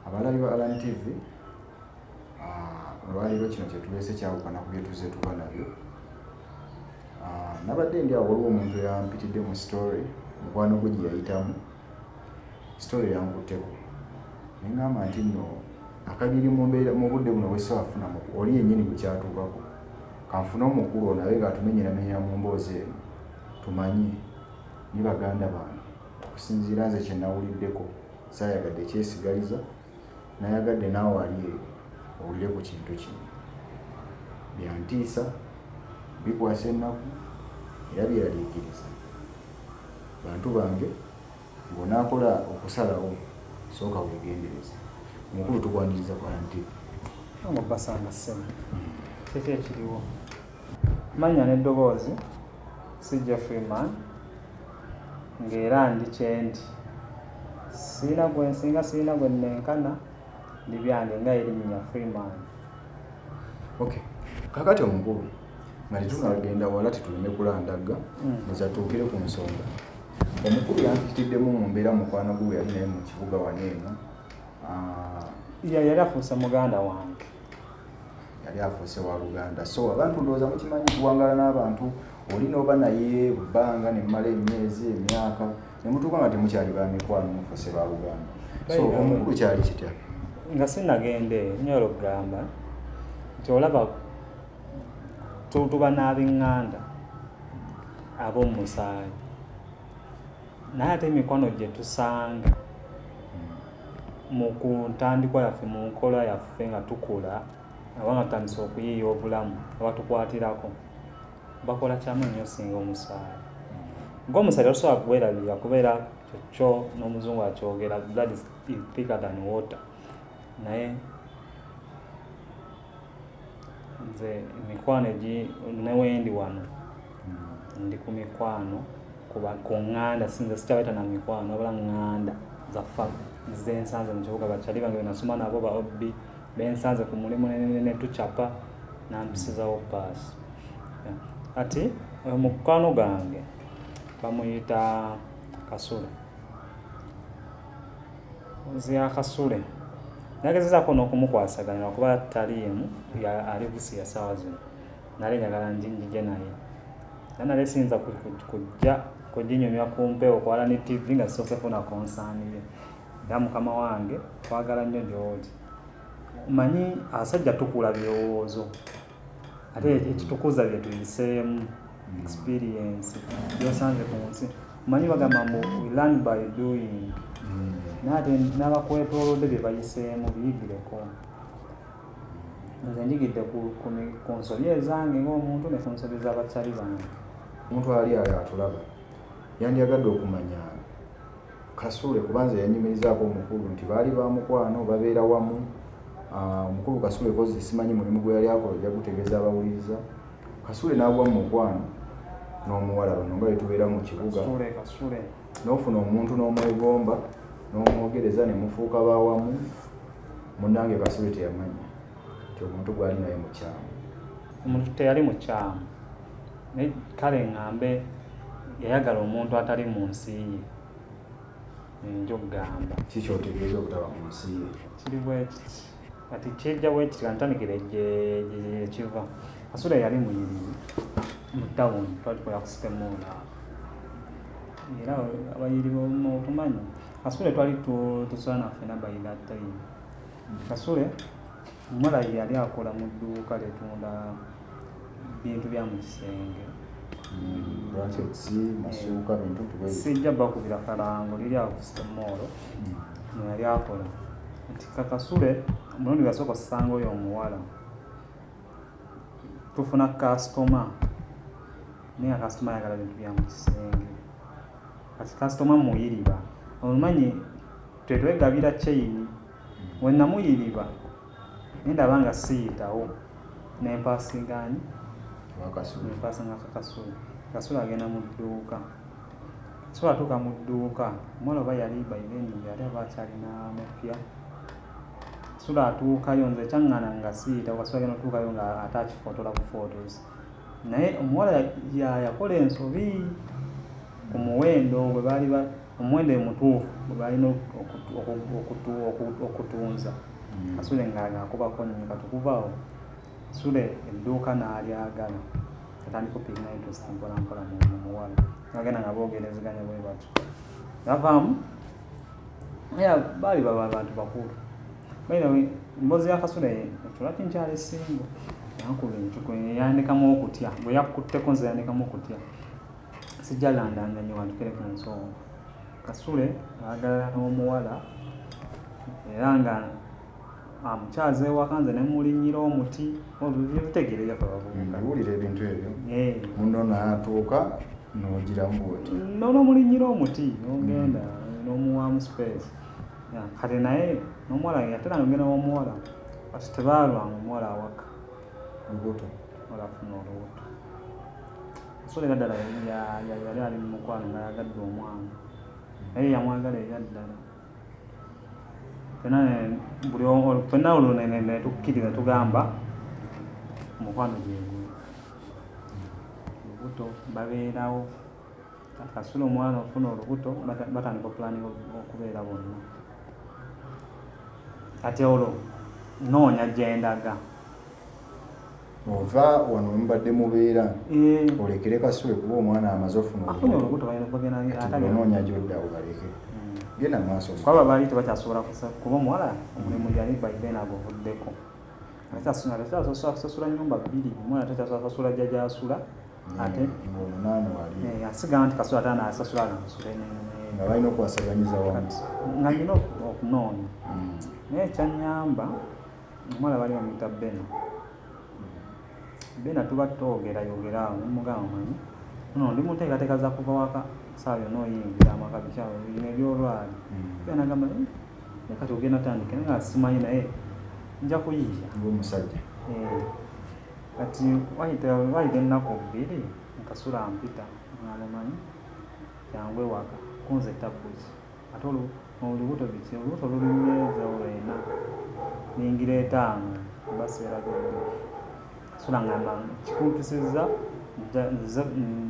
abalabi ba alan tv ah, olwaleero kino kyetuleese kyawukana ku byetuze tuba nabyo ah, nabadde ndi awo waliwo omuntu yampitidde mu story mukwano gwe gye yayitamu story yankutteko nengamba nti no akagiri mu budde buno bwesafuna oli yenyini gwekyatuukako kanfune omukulu ono abe ng'atumenyeramenyera mu mboozi eno tumanye ni baganda bange okusinziira nze kye nawuliddeko saayagadde kyesigaliza nayagadde naawe ali eyo owulire ku kintu kino byantiisa bikwasa ennaku era byeraliikiriza bantu bange Bw'onaakola okusalawo, sooka weegendereze. Omukulu tukwaniriza ku IMTV. Nga obbasanga ssebo, kiki ekiriwo? Manya n'eddoboozi, si Jeffrey Mann, nga era ndi kye ndi. Sirina gwe nsinga, sirina gwe nnenkana, ndi byange nga Irimnya Freeman. Okay. Kaakati Omukulu. nga tetunagenda wala tetuleme kulandagga nezatuukire ku nsonga omukulu yampitiddemu mu mbeera mukwano gwe yali naye mu kibuga wano eno ah, yali afuuse muganda wange yali afuuse wa luganda so abantu ndowooza mukimanyi kuwangala n'abantu oli n'oba naye bbanga nemmala emyezi emyaka nemutuuka nga temukyali ba mikwano mufuuse ba luganda so omukulu kyali kitya nga sinagenda eyo nyolo kugamba nti olaba tuba n'abenganda ab'omusaayi naye ate emikwano gye tusanga mu ku ntandikwa yaffe mu nkola yaffe nga tukula aba nga tutandise okuyiiya obulamu abatukwatirako bakola kyamu nnyo singa omusaayi ng'omusaayi tosobola kuwerabira kubeera kyokyo n'omuzungu akyogera blood is thicker than water naye nze emikwano egi newendi wano hmm. ndi ku mikwano kuba ku ŋŋanda sinze sikyabaita na mikwano wabula ŋŋanda zaffa zensanze mu kibuga bakyali bange benasoma nabo ba obbi bensanze ku mulimu netucapa nampisizawo paasi ati oyo mukwano gange bamuyita kasule nze akasule nagezezaako n'okumukwasaganira kuba taliimu ali busiya saawa zino nali njagala njinjije naye naye nali siyinza kujja kujinyumya ku mpewo kwala ne tv nga sisoose funa konsaaniye era mukama wange twagala nnyo gy'oli manyi asajja tukula birowoozo ate ekitukuza bye tuyiseemu hmm. experience byosanze ku nsi omanyi bagamba mbu we learn by doing hmm. naye ate n'abakwetoolodde bye bayiseemu biyigireko nze njigidde ku nsobi ezange ng'omuntu ne ku nsobi z'abakyali bange omuntu ali ayo atulaba yandyagadde okumanya kasule kubanza yanyumirizaako omukulu nti baali ba mukwano babeera wamu ah, omukulu kasule kozi simanyi mulimu gwe yali akola ojja gutegeeza abawuliriza kasule n'agwa mu mukwano n'omuwala bano nga betubeera mu kibuga n'ofuna omuntu n'omwegomba n'omwogereza ne mufuuka bawamu munange kasule teyamanya nti omuntu gwali naye mukyamu omuntu teyali mukyamu naye kale ŋŋambe yayagala omuntu atali mu nsi ye nja okugamba kiki otegeeza obutaba mu nsi ye kiri bwekiti kati kyejja bwekiti kantandikire gyekiva kasula yali muyiriri mu tawuni twali tukola ku sitemuula era abayiri botumanyi kasule twali tusula naffe nabayira time Kasule Mulayi yali akola mu dduuka litunda bintu bya mu kisenge sijja bakubira kalango liri awo kusemoolo hmm. mweyali akola nti kakasule omulundi gasooka osanga oyo omuwala tufuna kasitoma naye nga kasitoma ayagala bintu bya mu kisenge kati kasitoma muyiriba omumanyi tetwegabira kyeyini we namuyiriba naye ndaba nga siyitawo nempasingaani nempasinga kakasula kasula agenda mu dduuka kasula atuuka mu dduuka omwana oba yali baibeni yali aba akyalina mupya kasula atuukayo nze kyaŋŋana nga siyitawo kasula agenda otuukayo nga ate akifotola ku photos naye omuwala yakola ensobi ku muwendo gwe baali omuwendo emutuufu gwebalina okutunza hmm. kasule nga akubako nyo katukuvawo sule edduuka nalyagala atandika opigina interest mpolampola mumuwala agenda nga bogerezeganya bwe batyo navaamu ya baali baba abantu bakulu baidawe embozi ya kasule ekyolaki nkyali singo yankuba encuku yandikamu okutya bwe yakutteko nze yandikamu okutya sijja landanga nyo watukere ku nsonga kasule agalala n'omuwala era nga amukyaza ah, ewaka nze nemulinyira omuti bitegereyo kababuuliwulira ebintu ebyo eh. muno natuuka nogiramu oti nono mulinyira omuti nogenda mm. nomuwamu space kati naye nomuwala ate nagenda womuwala kati tebaalwanga omuwala awaka lubuto olafuna olubuto so era ddala yali ali mu mukwano nga yagadde omwana naye yamwagala era ddala fenna olwo netukkiriza tugamba omukwano gyegwe olubuto babeerawo kasula omwana ofuna olubuto batandika opulani okubeera bonna kati olwo noonya gyendaga ova wano mubadde mubeera mm. olekere kasule kuba omwana amaze ofunaonoonya gyodda obaleke mm. genda maaso kwaba baali tebakyasobola kuba omuwala omulimu yali baibeen aguvuddeko akyasasasula nyumba bbiri omwana takyasasasula jajaasula ate omunaana wali eh, asigala nti kasula ate anasasula anasula nga balina okuwasaganyiza wamu nga nina okunoonya mm. naye kyanyamba Omwana bali bamuyita Bena. Bena tuba twogera yogera awo mugamba manyi. Ono ndi munteekateeka za kuva waka saawa yonna oyingira amaka bikyawo bino ebyolwali. Hmm. Bena agamba eh, naye kati ogenda tandika naye nga simanyi naye nja kuyiiya. Ng'omusajja. Eh, kati wayita wayita ennaku bbiri nkasula mpita omwana manyi jangu ewaka kunze tabbuzi. ate olubuto biki olubuto lulimu enjawulo ena ningira etaano oba seera byonna sula ngamba kikuntusizza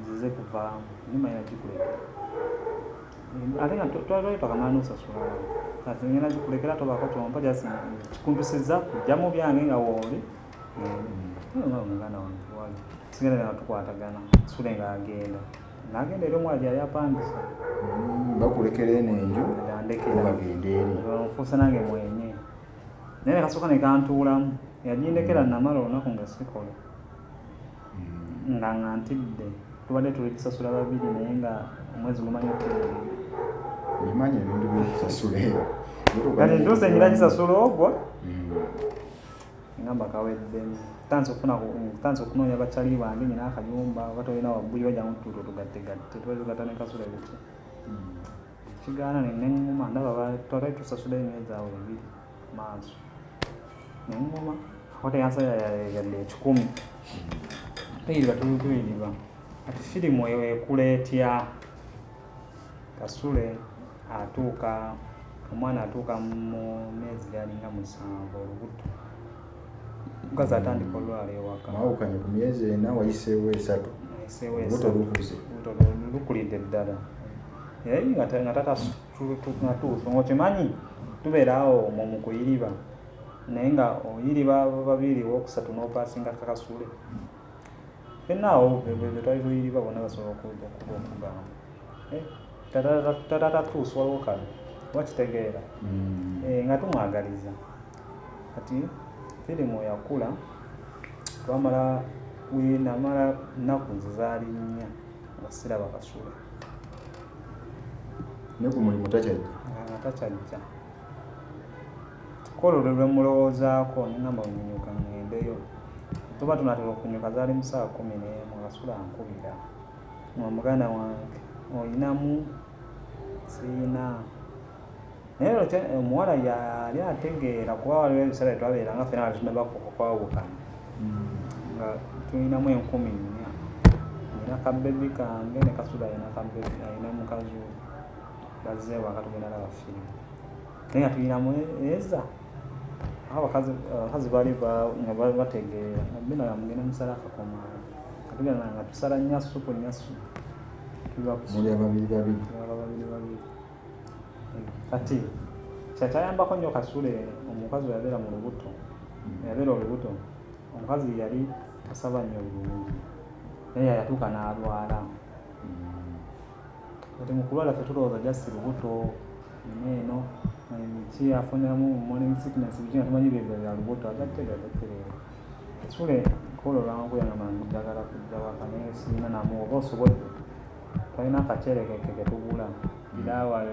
nzize kuvaamu nimayina gikulekera ate nga twali twakamala nosasula kati ngenda gikulekera tobaako kyompa jasi kikuntusizza kujjamu byange nga wooli muganda wange wali sigenda nga tukwatagana sule nga agenda nagenda eri omuwala gyeyali apangisa mm, bakulekera eno enju bagenda eri nfuuse nange mwenye naye nekasooka nekantuulamu yagindekera namala olunaku nga sikola mm. nga nga ntidde tubadde tuli kusasula babiri naye nga omwezi gumanyi okugenda bimanyi ebintu byokusasula eyo kati ntuuse ngira kisasula ogwo mm. ngamba kawedde tanze okufuna tanze okunoonya bakyali bange nyina akayumba oba tolina wabbuli bajja mutuuta otugattegatte tuba tugatta ne kasula ebiki hmm. kigaana neneŋŋuma ndaba twatali tusasula emyezi awo ebiri maaso neŋŋuma akwata yansala yadde ekikumi tuyiriba hmm. tulutuyirirwa kati firimu eyo ekula etya Kasule atuuka omwana atuuka mu myezi gyalinga musanvu olubuto mukazi atandika olwala ewaka mwawukanye ku myezi ena wayiseewo esatu olubuto lukuze lukulidde ddala nga tata natuuso ngaokimanyi tubeeraawo mu mukuyiriba naye nga oyiriba babiri wokusatu nopasinga kakasule fenna awo betwali luyiriba bona basobola okuda okuba okugamba eh, tatatatuusa waliwo kale wakitegeera mm. eh, nga tumwagaliza kati firimu yakula twamala namala nnaku nze zaali nnya nga siraba kasula ne ku mulimu takyajja nga takyajja Ku olwo lwe lwemulowoozaako ne ngamba wenyunyuka ngendeyo. Bwe tuba tunatera okunyuka zaali mu saa kumi n'emu nga sula ankubira nga muganda wange olinamu siyina naye olwo kya- omuwala yali ategeera kuba waliwo ebiseera bye twabeera nga fena wali tunaba ku- kwawukana nga tulinamu enkumi nnya nina ka bebi kange ne kasula alina ka bebi alina mukazi we bazze ewaka tugenda laba firimu naye nga tulina mweza abakazi bali nga bategeera bino yamugenda musala akakoma katugenda nga tusala nyasu ku nyasu muli ababiri babiri babiri babiri kati kyakyayambako nnyo kasule omukazi weyabeera mu lubuto hmm. yabeera olubuto omukazi yali asaba nnyo bulungi naye yayatuuka n'alwala kati mukulwala fe tulowooza just lubuto ino eno ki afunamu morning sickness biki nga tumanyi byebyo bya lubuto agattegagattereera sule kola olwangu yangamba njagala kujja waka naye sirina namu oba osobodde talina akacerekeke ketugula iraawayo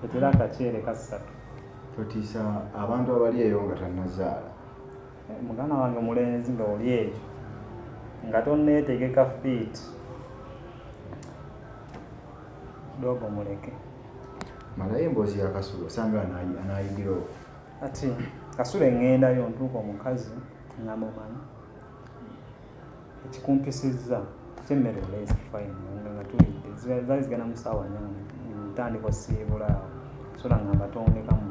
etera akaceere kassatu totiisa abantu abali eyo nga tanazaala muganda wange omulenzi nga oli eyo nga tonneetegeka fiit dogo muleke malayo emboozi ya kasulu osanga anaayigira oku ati kasulu eŋŋendayo ntuuka omukazi namumanyi ekikumpisizza kyemmere oleezi fine nga nga tulidde zali zigana mu saawa nnya ntandikwa siibula awo sola nga mbatondeka mu